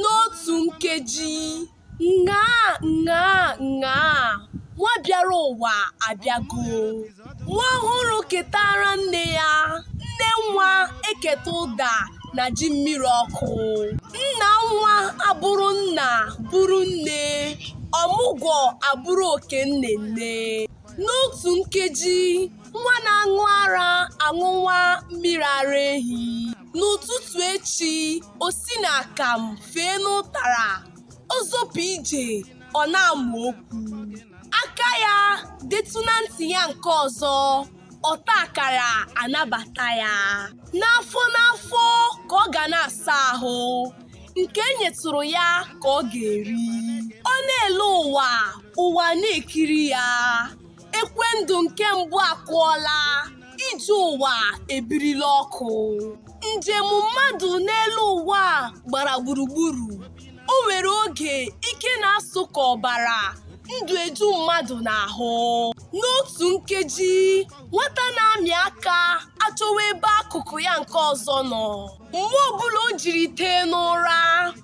n'otu nkeji ṅaa ṅaa ṅaa nwa bịara ụwa abịago nwa ọhụrụ eketa ara nne ya nne nwa eketa ụda na ji mmiri ọkụ nna nwa abụrụ nna bụrụ nne ọmụgwọ abụrụ oke nne nne n'otu nkeji nwa na-aṅụ ara aṅụwa mmiri ara ehi n'ụtụtụ echi o si n'akamụ fee n'ụtara ọ zọpụ ije ọ na-amụ okwu aka ya detụ na ntị ya nke ọzọ ọta akara anabata ya n'afọ n'afọ ka ọ ga na-asa ahụ nke e nyetụrụ ya ka ọ ga-eri ọ na-ele ụwa ụwa na-ekiri ya ekwe ndụ nke mbụ akụọla ije ụwa ebirila ọkụ njem mmadụ n'elu ụwa a gbara gburugburu o nwere oge ike na-asụ ka ọbara ndụ eju mmadụ n'ahụ n'otu nkeji nwata na-amị aka achọwa ebe akụkụ ya nke ọzọ nọ mgbe ọbụla o jiri tee n'ụra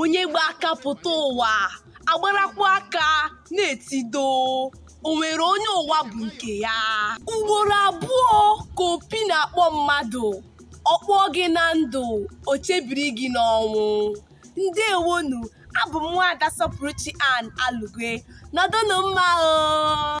onye gba aka pụta ụwa agbarakwa aka naa etido o nwere onye ụwa bụ nke ya ugboro abụọ ka opi na-akpọ mmadụ ọ kpọọ gị na ndụ o chebiri gị n'ọnwụ ndewonu abụ m nwaada sọpụrụchi ann alugwe nọdụnụ mma o